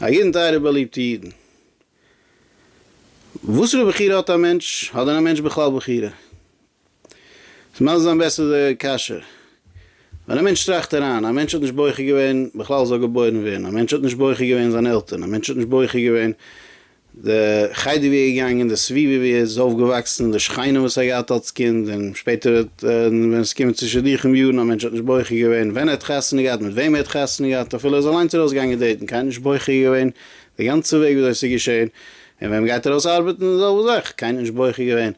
א ידען טייערע באליבטע אידן. וואסערע בחירה האט א מענטש? האט דען א מענטש בכלל בחירה? עס מייזט זיין בעסער די קשיא ווען א מענטש טראכט אריין, א מענטש האט נישט בוחר געווען בכלל זאל געבוירן ווערן, א מענטש האט נישט בוחר געווען זיין עלטערן, א מענטש האט נישט בוחר געווען די חדר ווי ער איז געגאנגען, די סביבה ווי ער איז אויפגעוואקסן, די שכנים וואס ער האט געהאט אלס קינד, און שפעטער האט ווען עס איז געקומען צו שידוכים יארן, א מענטש האט נישט בוחר געווען ווען ער האט חתונה געהאט, מיט וועם ער האט חתונה געהאט, אפילו ער איז אליינס ארויס געגאנגען דעיטן, קיינער נישט בוחר געווען די גאנצע וועג ווי אזוי עס איז געשען, און ווען מען גייט ארויס ארבעטן די זעלבע זאך, קיינער נישט בוחר געווען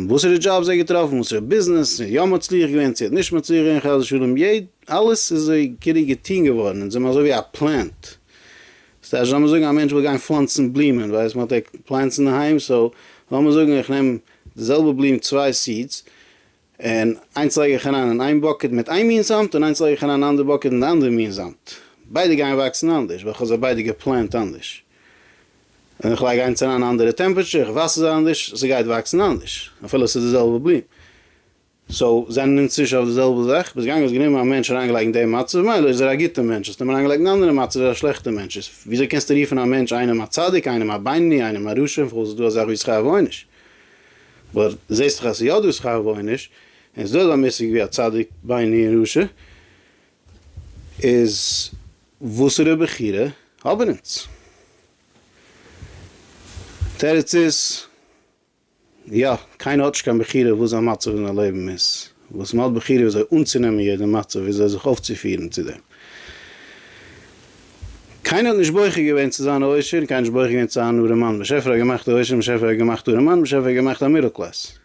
וואסערע דזשאבס ער האט געטראפן, וואסערע ביזנעס, צו יא מצליח געווען צו ער האט נישט מצליח געווען חס ושלום, אלעס איז אזוי כאילו געטון געווארן, און זיי האבן אזוי ווי א פלענט ס'טייטש לאמיר זאגן א מענטש וויל גיין פלאנצן בלומען ווייסט מען האט ער פלענטס אינדערהיים סאו לאמיר זאגן איך נעם די זעלבע בלום צוויי סידס און איינס לייג איך אריין אין איין באקעט מיט איין מין זאמד און איינס לייג איך אריין אין אנדער באקעט מיט די אנדערע מין זאמד ביידע גייען וואקסן אנדערש ווייל כ'האב זיי ביידע געפלענט אנדערש און איך לייג איינס אריין אין א אנדערע טעמפעטשער איך וואסער זיי אנדערש ס'גייט וואקסן אנדערש אפילו ס'איז די זעלבע בלום. סאו זענען אונז צווישן אויף די זעלבע זאך, ביז געגאנגען האסט גענומען א מענטש אריינגעלייגט אין די מצב, מילא איז ער א גוטע מענטש, האסט אים אריינגעלייגט אין א אנדערע מצב, איז ער א שלעכטע מענטש, איז וויאזוי קענסטו רופן א מענטש איינעם א צדיק, איינעם א בינוני, איינעם א רשע, וכו' ס'איז דא אזא זאך ווי שכר ועונש, אבער זעהסט דאך אז ס'איז יא דא שכר ועונש, און ס'איז דא אזא מושג ווי א צדיק, בינוני און רשע, איז וואסערע בחירה האבן אונז? תירוץ איז. יא, קיינער האט נישט קיין בחירה וואס זיין מצב אין די לעבן איז, וואס מען האט בחירה וויאזוי אנצונעמען יעדע מצב, וויאזוי זיך אויפצופירן צו דעם. קיינער האט נישט בוחר געווען צו זיין א עושר, און קיינער האט נישט בוחר געווען צו זיין אן ארעמאן, באשעפער האט געמאכט א עושר, און באשעפער האט געמאכט אן ארעמאן, באשעפער האט געמאכט א מידל קלעס,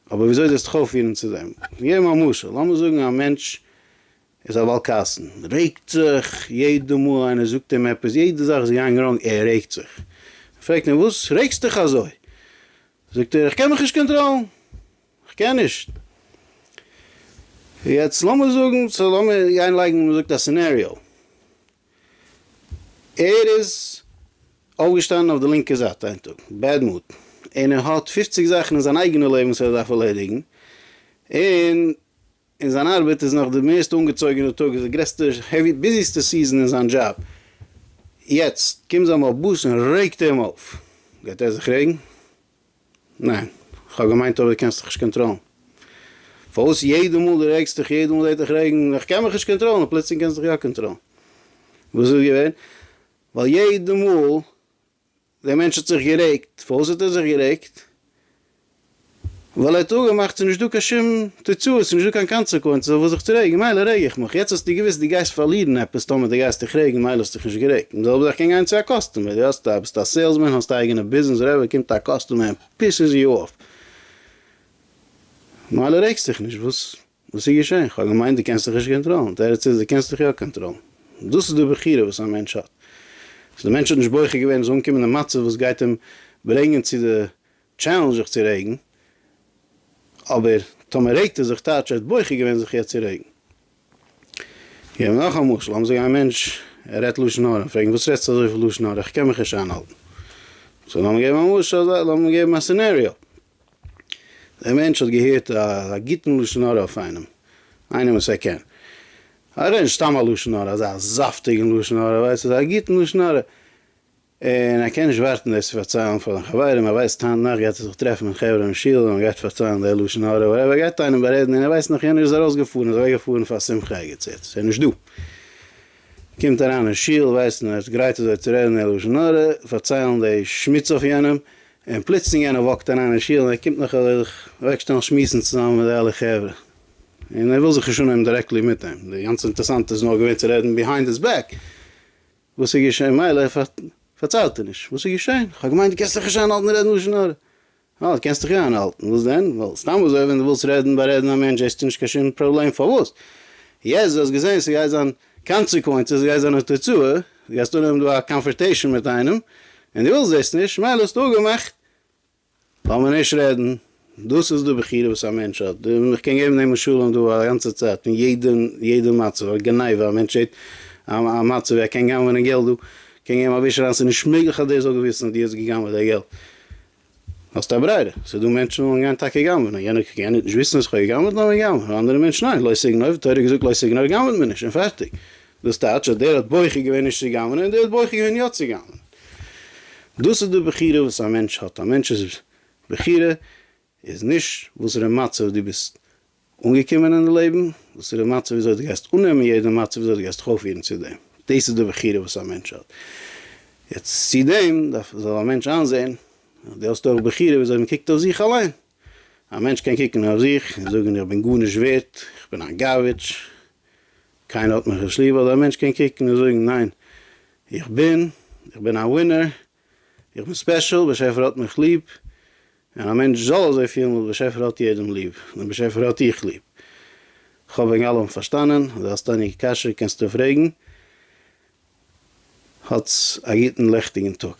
אבער וויאזוי זאלסטו דיך אויפפירן צו דעם. געב מיר א משל, לאמיר זאגן א מענטש איז א בעל כעסן, רעגט זיך, יעדע מאל איינער זאגט אים עפעס, יעדע זאך איז געאנגען ראנג, ער רעגט זיך. מען פרעגט אים וואס רעגסט דיך אזוי? זאגט ער איך קען מיך נישט קאנטראלן, איך קען נישט. יעצט לאמיר זאגן, סא לאמיר גיין לייגן מען זאגט א סינעריאו, ער איז אויפגעשטאנען אויף די לינקע זייט איין טאג, בעד מוד, און ער האט פופציג זאכן אין זיין אייגענע לעבן וואס ער דארף ערלעדיגן, און. און זיין ארבעט איז נאך די מערסט אנגעצויגענע טאג איז די גרעסטע העווי ביזיסטע סיזען אין זיין דזשאב, יעצט קומט זיין בעל באס און רעגט אים אויף, גייט ער זיך רעגן? ניין, כ'האב געמיינט אויב די קענסט דיך נישט קאנטראלן פארוואס יעדע מאל די רעגסט דיך יעדע מאל דעט דיך רעגן, איך קען מיך נישט קאנטראלן און פלוצלינג קענסט דיך יא קאנטראלן, וואס איז געווען? ווייל יעדע מאל דער מענטש האט זיך גערעגט, פארוואס האט ער זיך גערעגט? ווייל ער האט אפגעמאכט ס'איז נישט דא קיין שום תוצאות, ס'איז נישט דא קיין קאנצעקווענצעס אויף וואס זיך צו רעגן, מילא רעג איך מיך, יעצט האסטו געוויסט דו גייסט פארלירן עפעס טאמער דו גייסט דיך רעגן, מילא האסטו דיך נישט גערעגט, און די זעלבע זאך קען גיין צו א קאסטומער, דו האסט א, ביסט א סעילסמען, האסט א אייגענע ביזנעס, וואטעווער, קומט א קאסטומער און פיסעס יו אויף, מילא רעגסט דיך נישט, וואס? וואס איז געשען? כ'האב געמיינט דו קענסט דיך נישט קאנטראלן. תירוץ איז דו קענסט דיך יא קאנטראלן. דאס איז די בחירה וואס א מענטש האט. סאו די מענטש האט נישט בוחר געווען ער זאל אנקומען אין מצב וואס גייט אים ברענגען צו די טשעלענדזש זיך צו רעגן, אבער טאמער רעגט ער זיך טייטש ער האט בוחר געווען זיך יעצט צו רעגן. כ'געב נאך א משל, לאמיר זאגן א מענטש ער רעדט לשון הרע, פרעגן וואס רעדסטו אזויפיל לשון הרע כ'קען מיך נישט איינהאלטן. סאו לאמיר געבן א משל, לאמיר געבן א סינעריאו. דער מענטש האט געהערט א גוטן לשון הרע אויף איינעם, איינעם וואס ער קען. ער רעדט נישט סתם א לשון הרע, אזא זאפטיגן לשון הרע, ווייסט, אזא גוטן לשון הרע, און ער קען נישט ווארטן דאס צו פארציילן פאר זיינע חברים, ער ווייסט היינט נאכט גייט ער זיך טרעפן מיט חברה אין שול און ער גייט פארציילן די לשון הרע, וואטעווער, ער גייט איינעם בארעדן און ער ווייסט נאך, יענער איז ארויסגעפארן, איז אוועקגעפארן פאר שמחה ערגעץ יעצט, ער איז נישט דא. קומט אריין אין שול, ווייסט, און ער האט גרייט אזוי צו רעדן די לשון הרע, פארציילן די שמוץ אויף יענעם, און פלוצלינג איינער וואקט אריין אין שול און ער קומט נאך זיך אוועקשטעלן שמועסן צוזאמען מיט די אלע חברה, און ער וויל זיך נישט אנהייבן דירעקטלי מיט אים, די גאנצע אינטערסאנטע איז נאר געווען צו רעדן ביהיינד היז בעק, וואס איז געשען מילא פארציילט ער נישט, וואס איז געשען? כ'האב געמיינט דו קענסט דיך נישט איינהאלטן רעדן לשון הרע, אה דו קענסט דיך יא איינהאלטן, וואס דען? ווייל סתם אזוי ווען דו ווילסט רעדן בארעדן א מענטש זעסטו נישט קיין שום פראבלעם פארוואס יעצט דו האסט געזען ס'גייט זיין קאנצעקווענצעס גייט זיין א תוצאה, דו גייסט אנהויבן דא א קאנפערטעישן מיט איינעם, און דו ווילסט דאס נישט, מילא האסטו אפגעמאכט, לאמיר נישט רעדן, דאס איז די בחירה וואס א מענטש האט, און איך קען געבן דעם משלים דא א גאנצע צייט, פון יעדע יעדע מצב, א גניבה, א מענטש שטערט א מצב ווי ער קען גנב'נען געלט דא, קען געבן א וויש אריין, ס'איז נישט מעגליך אז דער זאל געוויסן אז דו האסט געגנב'עט דער געלט. האסט א ברירה, ס'דא מענטשן וואס וועלן גיין טאקע גנב'נען, יענער קען גענט נישט וויסן אז כ'האב געגנב'ט לאז מען גנב'נען, אנדערע מענטשן ניין, לא סגנוב, תורה האט געזאגט לא סגנוב גנב'ט מען נישט און פארטיג, דאס טייטש אז דער האט בוחר געווען נישט צו גנב'נען און דער האט בוחר געווען יא צו גנב'נען. דאס איז די בחירה וואס א מענטש האט, א מענטש'ס בחירה איז נישט וואסערע מצב דו ביסט אנגעקומען אין די לעבן, וואס איז די מצב וויאזוי דו גייסט אננעמען יעדע מצב, וויאזוי דו גייסט דיך אויפפירן צו דעם, דאס איז די בחירה וואס א מענטש האט, יעצט צו דעם דארף זאל א מענטש איינזען אז דו האסט אויך בחירה וויאזוי מען קוקט אויף זיך אליין, א מענטש קען קוקן אויף זיך און זאגן איך בין גארנישט ווערט, איך בין א גארביטש, קיינער האט מיך נישט ליב, אדער א מענטש קען קוקן און זאגן ניין איך בין, איך בין א ווינער, איך בין ספעשל, באשעפער האט מיך ליב, און א מענטש זאל אזוי פילן ווייל באשעפער האט יעדעם ליב, דעם באשעפער האט איך ליב. כ'האף וועגן אלעם פארשטאנען, אויב דו האסט עניגע קשיא קענסטו פרעגן. האטס א גוטן לעכטיגן טאג.